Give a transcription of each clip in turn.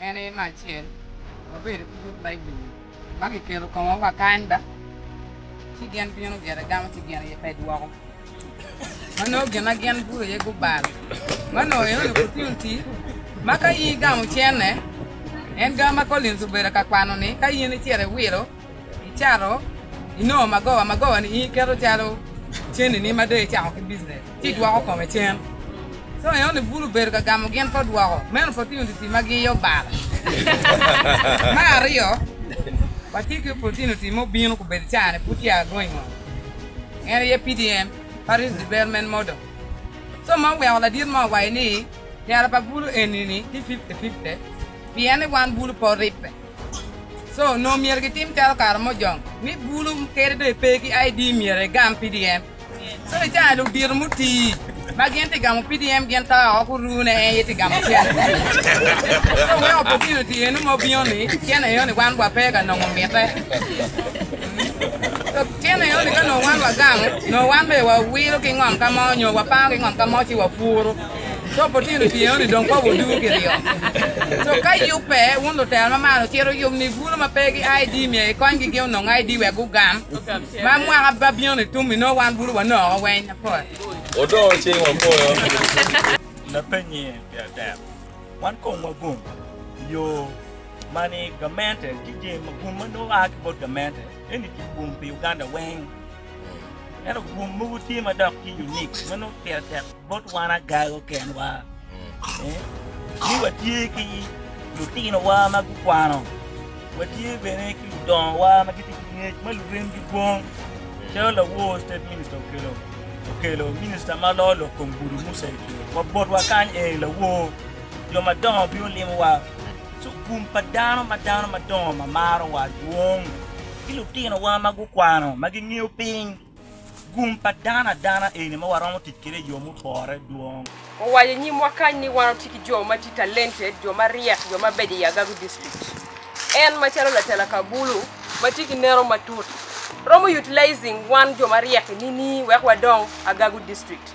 En aye me acel, wabedo ki but Baibul ma kiketo i komwa wa kanyda, ci gin bino gire gamo ci gin aye pe dwoko. Ma nongo gin ma gin gudo iye gubalo. Ma nongo en onyubo opportunity ma ka in igamo cene, en gamo ma Collins obedo ka kwano-ni, ka in icito iwilo, Icato, inongo magowa. Magowa-ni in iketo calo cennini ma dong icako ki bijinec, ci idwoko kome cen. Co enoni bulu obedo ka gamo gin pa dwoko. Meno pe otino oti-ti ma giyo bala. Me aryo, watye ki opotino oti ma obino ka obedo caa-ni pud tye aa going on. En aye PDM, Parish Development Model. Co ma oweko ladit mo owaco ni, Tela pa bulu eni-ni tye fifty fifty, pien ni wan bulu pe oribbe. Co onongo myero gitim calo kare mo jong ni bulu kede dong epe ki ID myero egam PDM. Co i caa ludito muti ma gin ti gamo PDM gin to o guru ne en ye ti gamo cen. Co weko opotino ti eno ma obino ni cen eno ni wan wa pe ka nongo mite. Co cen eno ni ka nongo wan wa gamo nongo wan be wa wilo ki ngom ka mo nyo wa pango ki ngom ka mo ci wa puru. Coo pa otino tye eno ni dong pa wuduu ki ryo. Coo ka yub pe, wun lutera ma marana wucito wuyub ni bulu ma pe gi ID myero ikony gi gin onong ID wek gugam. Ma mwaka ma bino ni tum inongo wan bulu wanoko weny apol. Odongo cing wapoyo. Lapenye pi adek, wan kong wagum i yo ma ni gamente ki jemi magum ma nongo aa ki bot gamente eni ki gum pi Uganda weng. Ento rwom mogo tye ma dok tye unik ma nongo pire tek bot wan agago kenwa ni watye ki lutinowa ma gukwano, watye bene ki ludongowa ma gitye ki ngec ma luremgi dwong. Calo lawor State Minister okelo, okelo Minister ma lor lok kom gudo Musa Ecwe. Wa botwa kany eni lawor, jo madongo bino limowa. So gum pa dano ma dano madongo ma marowa dwong. ki lutinowa ma gukwano ma gingeyo piny gum pa dano adana eni ma waromo tic kwede i yo mupore dwong. Wawaco i nyimwa kany ni wan watye ki jo ma tye talented, jo ma ryek, jo mabeco i Agago District. En macalo Latela Kabulu ma tye ki neno matut, romo utilizing wan jo maryek-ki nining wek wadong Agago District?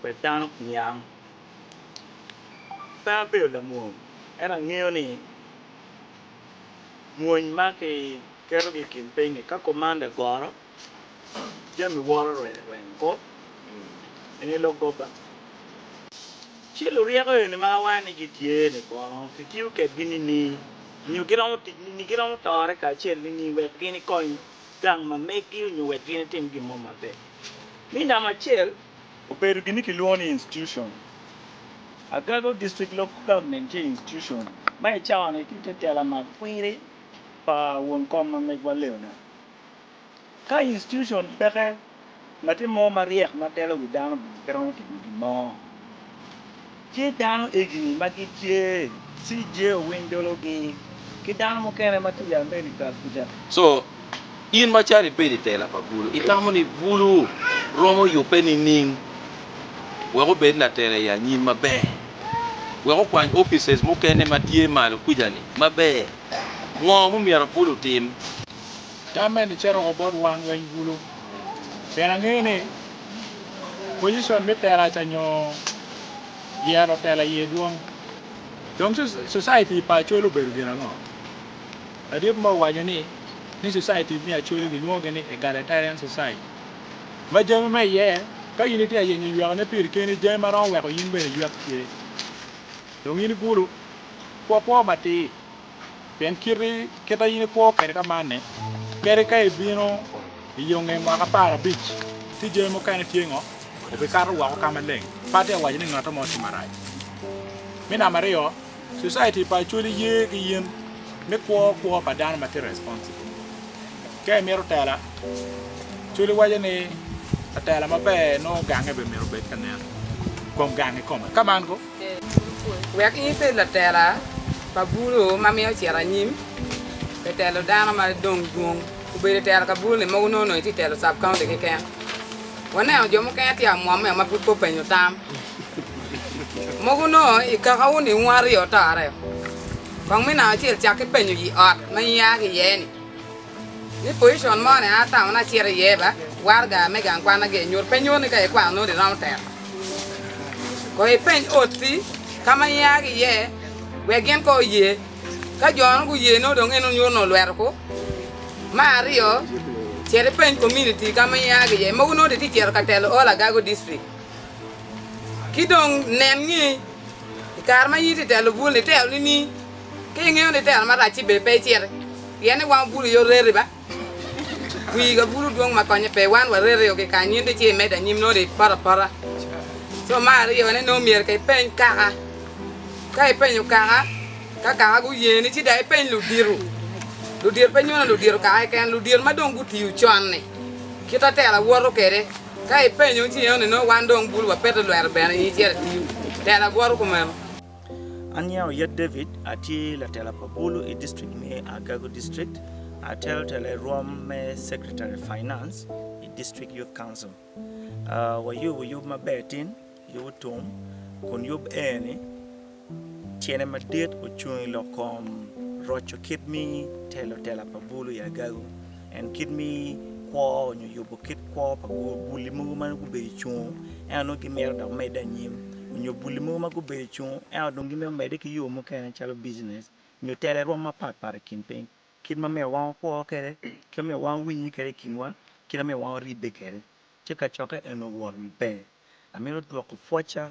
Wek dano oniang. Pe abedo lamwony, ento angeyo ni mwony ma kiketogi i kin piny-ngi ka komanda goro, jami woro rweny rweny bot eni lok gobba. Ci luryeko eni ma awango ni gitye-ni kono kitiyo kedgi nining, nyo giromo tic nining? Giromo tore kacel nining wek gin ikony gang ma meggi nyo wek gin itim gin mo maber? Mi namba acel. Obedo gin kilwongo ni institution. Agago District Local Government tye institution ma i cawani tye te tela ma kwiri pa won kom ma megwa Leonard. Ka institution peke, ngati mo ma ryek ma telo wi dano bene pe romo timo gin mo. Tye dano egi ma gitye CJ owiny dologi ki dano mukene ma tye i America kuca. So, in macalo ibedo i tela pa bulu, itamo ni bulu romo yubbe nining wek obed latela i anyim maber? Wek okwany offices mukene ma tye malo kuca-ni maber, ngo ma omyero bulu otim? Tam meni cito woko bot wang lweny bulu, pien angeyo ni pojicon me teraca nyo yero tela aye dwong. Dong Society pa Acholi obedo gin ango? Ladit mo owaco ni, ni Society me Acholi gilwongogi ni Egalitarian Society, ma jami ma iye ka in itye ka yenyo ywekone piri keni, jami ma romo weko in bene iywek tye. Dong in ibulu, kwo kwo matir. Pien kiti kita in ikwo kwede ka man-ni, kadi ka ibino i yo nge mwaka apar abic, ci jami mukene tye ngo? Obikato woko ka maleng. Patti awaco ni ngato mo tye marac. Me namba aryo, Society pa Acholi ye ki yen me kwo kwo pa dano ma tye responsible. Ka imito tela, Acholi waco ni latela maber nongo gange bene myero obed ka nen kom gange kome. Ka man ko, Wek in ibed latela pa bulo ma myero ocit anyim pi telo dano ma dong dwong, obedo itelo ka buloni mogo nongo itye itelo Sub County keken. Waneno jo mukene tye amwomme ma pud pe openyo tam. Mogo nongo i kakawu ni wun aryo otoreo. Kong me namba acel cak ki penyo i ot ma ia ki iye-ni. Ni pocicon mo ni a taun acito iye ba waraga me gang kwan agi nyuto pe nyuto ni ka ikwano noti iromo tero kong ipeny oti ka ma ia ki iye wek gin kong oye ka jo nongo guye nongo dong eno nyuto ni olweto ku ma aryo cit ipeny community ka ma ia ki iye mogo nongo itye cito ka telo all agago district ki dong nen ni ikare ma in itye telo bul ni tero ni ni Ka ingeyo ni tero marac-ci ber pe iciti, pien ni wan obulu aye oreti ba. Wii ka bulu dwong ma konye pe, wan waretio ki kany nyutti ci imedde anyim nongo dong ipoto apota. Co me aryo ne nongo myero ka ipeny kaka. Ka ipenyo kaka, ka kaka guyeni ci dong ipeny ludito. Ludito pe nyono ludito kaka keken, ludito ma dong gutiyo con-ni, kit ma tera woto kwede. Ka ipenyo ci ingeyo ni nongo wan dong bulu wapeto lwero bene in icit itiyo. Tera bwoto kumeno. An Yao Yat David, atye latela pa bulu i district me Agago District, atelo telo i rwom me Secretary Finance i District Youth Council. Ah, wayubo yub maber tin, yub otum, kun yub eni tyene madit ocung i lok kom roco kit mi telo tela pa bulu i Agago. En kit mi kwo onyo yubo kit kwo pa buli mogo ma nongo gubedo cung ento nongo gimito dok mede anyim onyo buli mogo ma gubedo cung ento dong gimito mede ki yo mukene calo business onyo tele rwom mapat pat i kin piny kit ma myero wan wakwo kede kit ma myero wan wawinyne kede i kinwa kit ma myero wan waribbe kede ci kacokke eno wot maber amito dwoko pwoca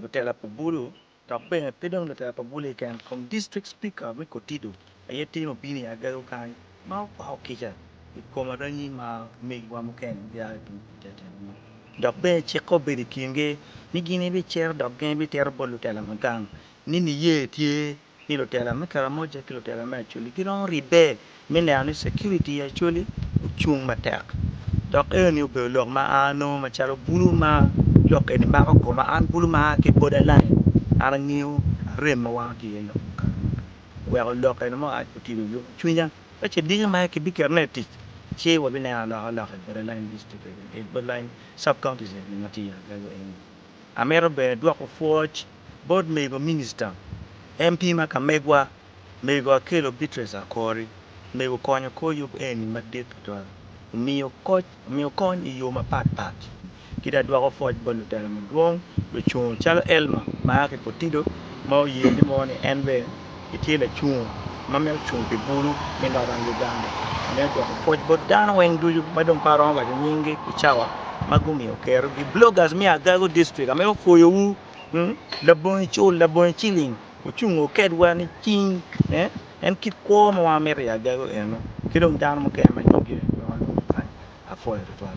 lutela pa bulu dok bene pe dong lutela pa bulu keken kong district speaker me kotido aye tye obino i agego kany ma okwako kica i kom aranyi ma omegiwa mukene gia i tung teteni mo dok bene cikke obedo i kingi ni gin ibicito dok gin ibitito bot lutela ma gang ni niye tye ni lutela me Karamoja ki lutela me Acholi giromo ribbe me neno ni security i Acholi ocung matek dok enoni obedo lok ma an anongo macalo bulu ma lok eni mako koma, an bulu ma aa ki border line an angiyo arem ma wango tye iye lok mukene weko lok eni me oac otido i yom cwinya ka ce diki ma ki biketo ne i tic ci wabineno alokaloka i border line district eni border line sub counties eni ma tye i Uganda eni. Amito bene dwoko pwoc bot mego Minista, MP ma kamegwa, Mego Akello Beatrice Akori, mego konyo kor yub eni madit tutwal. Omiyo koc, omiyo kony i yo mapat pat. Ki dong adwoko pwoc bot lutela madwong, lucungo calo Elma ma a ki Kotido ma oye ni mo ni en bene, Itye lacung ma myero ocung pi bulu me Northern Uganda me gwoko pwoc bot dano weng ducu ma dong pe aromo waco nyinggi i cawa ma gumiyo kerogi. Bloggers me Agago District ame opwoyowu labongo icul, labongo iciling ocung o kedwa nicing en kit kwo ma wa mito i Agago eno ki dong dano mukene ma nyinggi pe aromo waco kany. Apwoyo tutwal.